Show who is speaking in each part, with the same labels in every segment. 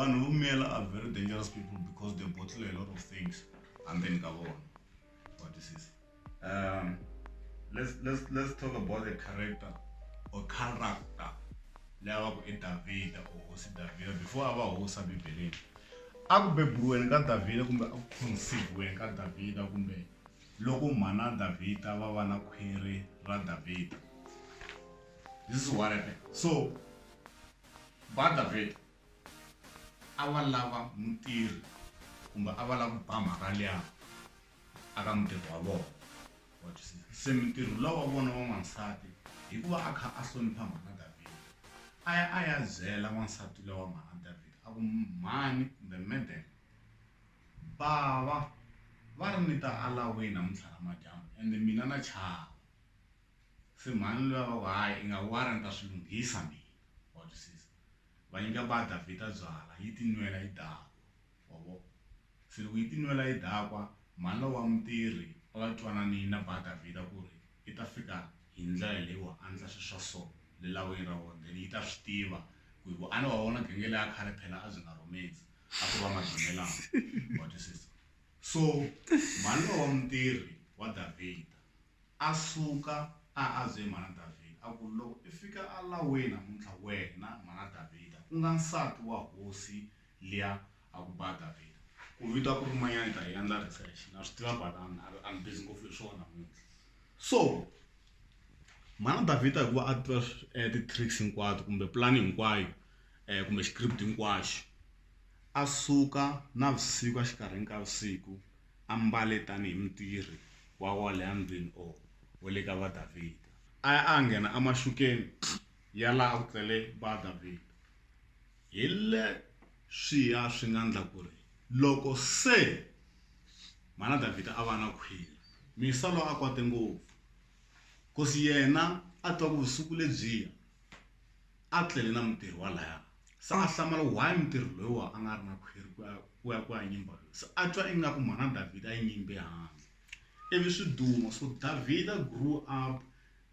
Speaker 1: vanhu vumela are very dangerous people because they bottle a lot of things hambeni ka vona what is this um let's let's let's talk about the character or character leyi va ku i davhida or hosi davhida before a va hosi a bibeleni a ku beburiweni ka davhida kumbe a ku khonsiviweni ka davhida kumbe Loko mhana Davhida va va na khwiri ra Davhida. This is what happened. So, ba Davhida a va lava mutirhi kumbe a va lava ku ba mhaka liya aka mutirhi wa vona. Wa twisisa? Se mutirhi luwa wa vona wa n'wansati hikuva a kha a hlonipha mhana Davhida, a ya a ya byela n'wansati luwa wa mhana Davhida a ku, Mhani kumbe madam, Bava va ri ni ta alaway namuntlha namadyambu ende mina na chava. Se mhani luya va ku hayi i nga worry ni ta swi lunghisa mina wa twisisa. Va nyika ba Davhida byala yi ti nwela yi dakwa wa vo. Se loko yi ti nwela yi dakwa mhani lowa wa mutirhi a va twananini na ba Davhida ku ri i ta fika hi ndlela leyi wa andla swi swa so le lawini ra vona then yi ta swi tiva ku hi vuane wa vona genge leya khale phela a byi nga rhumedzi a ku ri va madunelama wa twisisa so mhani lowa mutirhi wa davhida a suka a a bye mhana davhida a ku loko i fika a laweni namuntlha wena mhana davhida ku nga nsati wa hosi liya a ku ba davhida ku vita ku ri manyana ni ta yi endla research na swi tiva but I'm, I'm busy ngopfu hi swona namuntlha so mhana davhida hikuva a tiva eh, ti-tricks hinkwato kumbe pulani hinkwayo kumbe xikripto hinkwaxo a suka navusiku exikarhini ka vusiku a mbale tanihi mutirhi wa kwale endlwini or wa le ka va Davhida a ya a nghena emaxukeni ya laha a ku tlele va Davhida hi le swi ya swi nga ndla ku ri loko se mana Davhida a va na khwiri misalo a kwate ngopfu kosi yena a twa ku vusiku lebyiya a tlele na mutirhi walaya se a hlamala why mutirhi loyiwa a nga ri na khwiri ku ya ku ya ku ya nyimba loyi se a twa ingaku mhana davhida yi nyimbe handle ivi swi duma so davhida grew up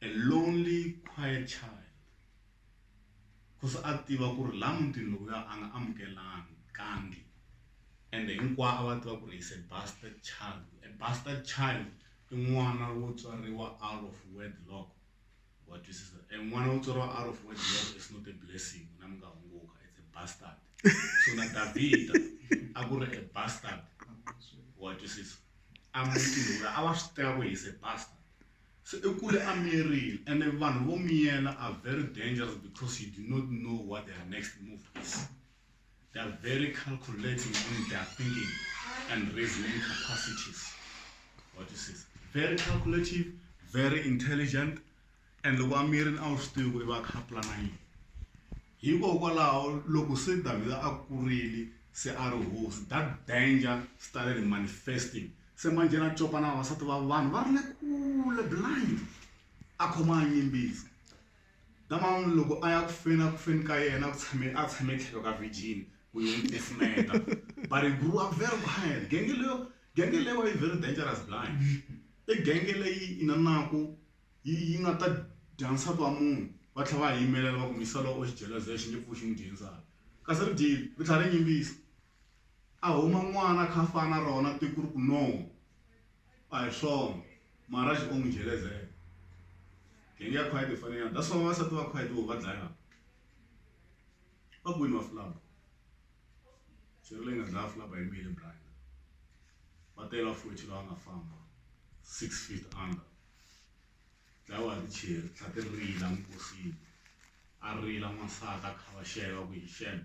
Speaker 1: a lonely quiet child ku se a tiva ku ri laha mutini lowuya a nga amukelani kangi ende hinkwavo a va tiva ku ri is a bastard child a bastard child i n'wana wo tswariwa out of wedlock. Wa twisisa. E n'wana u tswariwa out of wedlock is not a blessing n'wina mi nga hunguka it's a bastard so na Davhida a ku ri a bastard wa twisisa a mutini wula a va swi tiva ku he's a bastard so i kule a miyerile ene vanhu vo miyela are very dangerous because you do not know what their next move is their very calculating in their thinking and reasoning capacities. What is this? Very calculative, very intelligent, and loko a miri a wu swi tivi ku i va kha plana yini hikokwalaho loko se davhida a kurile se a ri hosi that danger started manifesting se manje na copa na vavasati va vanhu va ri le kule blind a khoma a yimbisa Nkama loko a ya ku feni a ku feni ka yena ku tshame a tshame tlhelo ka virgin ku yi n'wi tisimeta but he grew up very quiet genge leyo genge leyi wa yi very dangerous blind i genge leyi inanaku yi yi nga ta dya nsati wa munhu va tlhela va yimelela va ku misa lowo u xijeleza xi nge pfuki xi n'wi dye nsati kasi ri dyile ri tlhela ri yimbisa A huma n'wana kha fana rona tiku riku no a hi swona Maharaj o n'wi jelezela. Genge ya Khwayiti yi fane yini? That's why vavasati va Khwayiti vo va dlayana. Va kwini va Fulaba? Swirho leyi nga dlaya Fulaba hi Milly Bryner. Va tele va Fochi lava nga famba six feet under. Dlayiwa hi ticheri tlhela ti rila enkosini. A rila n'wansati a khavaxela ku hi xana.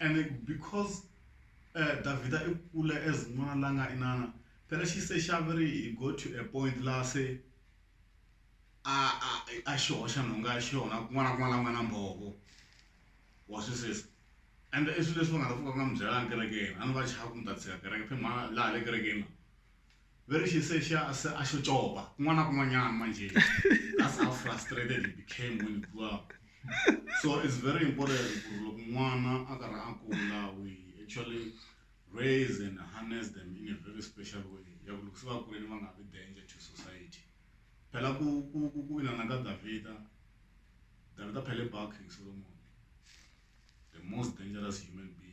Speaker 1: Ene because uh, Davida i kule as n'wana la nga inana phela xi se xa veri he go to a point laha se a a a xi hoxa nhonga ya xona kun'wana na kun'wana la n'wana mbhovo wa swisisa and i swilo leswi va nga ta pfuka va nga mi byelanga kerekeni a ni va chava ku mi ta tshika kereke phe mhana laha le kerekeni la Very she said she ase a xo copa kun'wana na kun'wanyana manje that's how frustrated he became when he grew up so it's very important ku ri loko n'wana a karhi a kula we actually raise and harness them in a very special way ya ku loko se va kuleni va nga vi danger to society phela ku ku ku ku inana ka davhida davhida phele ba king solomon the most dangerous human being